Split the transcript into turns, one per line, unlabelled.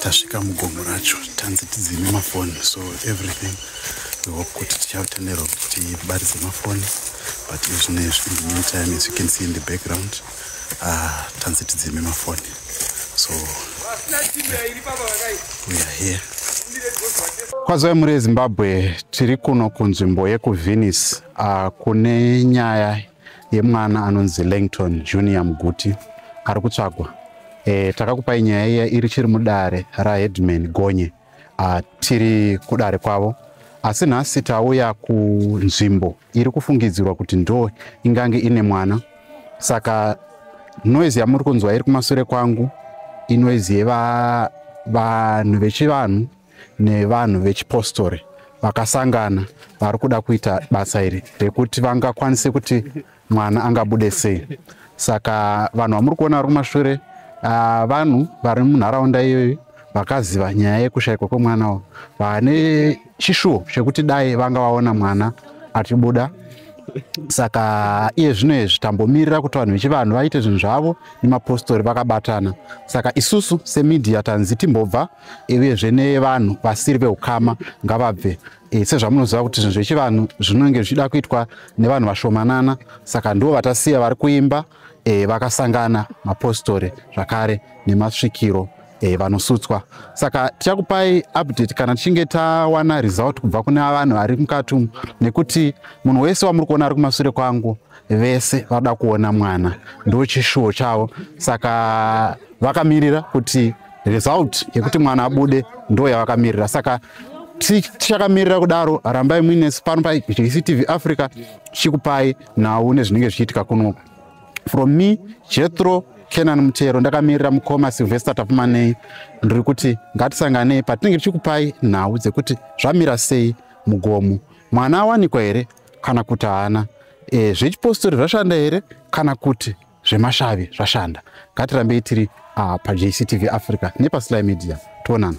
tasvika mugomo racho tanzi tidzime mafoni so everything we hope kuti tichatenderwa kuti tibaridze mafoni but izvino izvi in the meantime as you can see in the background uh, tanzi tidzime mafoni so we are here kwazoi muri ezimbabwe tiri kuno kunzvimbo yekuvenice uh, kune nyaya yemwana anonzi Langton Junior Muguti ari kutsvagwa. E, takakupai nyaya iya iri chiri mudare raHeadman Gonye a, tiri kudare kwavo asi nhasi tauya kunzvimbo iri kufungidzirwa kuti ndo ingange ine mwana saka noise yamuri kunzwa iri kumasure kwangu inoise yevanhu vechivanhu nevanhu vechipostori vakasangana vari kuda kuita basa iri rekuti vangakwanise kuti mwana angabude sei saka vanhu vamuri kuona vari kumashure ah, vanhu vari munharaunda iyoyo vakaziva nyaya yekushayikwa kwemwana wo vane chishuwo chekuti dai vanga vaona mwana achibuda saka iye zvino izvi tambomirira kuti vanhu vechivanhu vaite zvinhu zvavo nemapostori vakabatana saka isusu semidhiya tanzi timbobva uyezve nevanhu vasiri veukama ngavabve e, sezvamunoziva kuti zvinhu zvechivanhu zvinenge zvichida kuitwa nevanhu vashomanana saka ndivo vatasiya vari kuimba e, vakasangana mapostori zvakare nemasvikiro e, vanosutswa saka tichakupai update kana tichinge tawana result kubva kune vanhu vari mukati umu nekuti munhu wese wamuri kuona ari kumasure kwangu vese vada kuona mwana ndochishuwo chavo saka vakamirira kuti result yekuti mwana abude ndo yavakamirira saka tichakamirira kudaro rambai muine pano pactv africa chikupai nhau nezvinenge zvichiitika kuno from me jethro kenan mutero ndakamirira mukoma silvester tapumanei ndiri kuti ngatisanganei patinenge tichikupai nhau dzekuti zvamira sei mugomo mwana awanikwa here kana kuti haana e, zvechipostori zvashanda here kana kuti zvemashavi zvashanda ngatirambei tiri uh, pajctv africa nepasly media tionana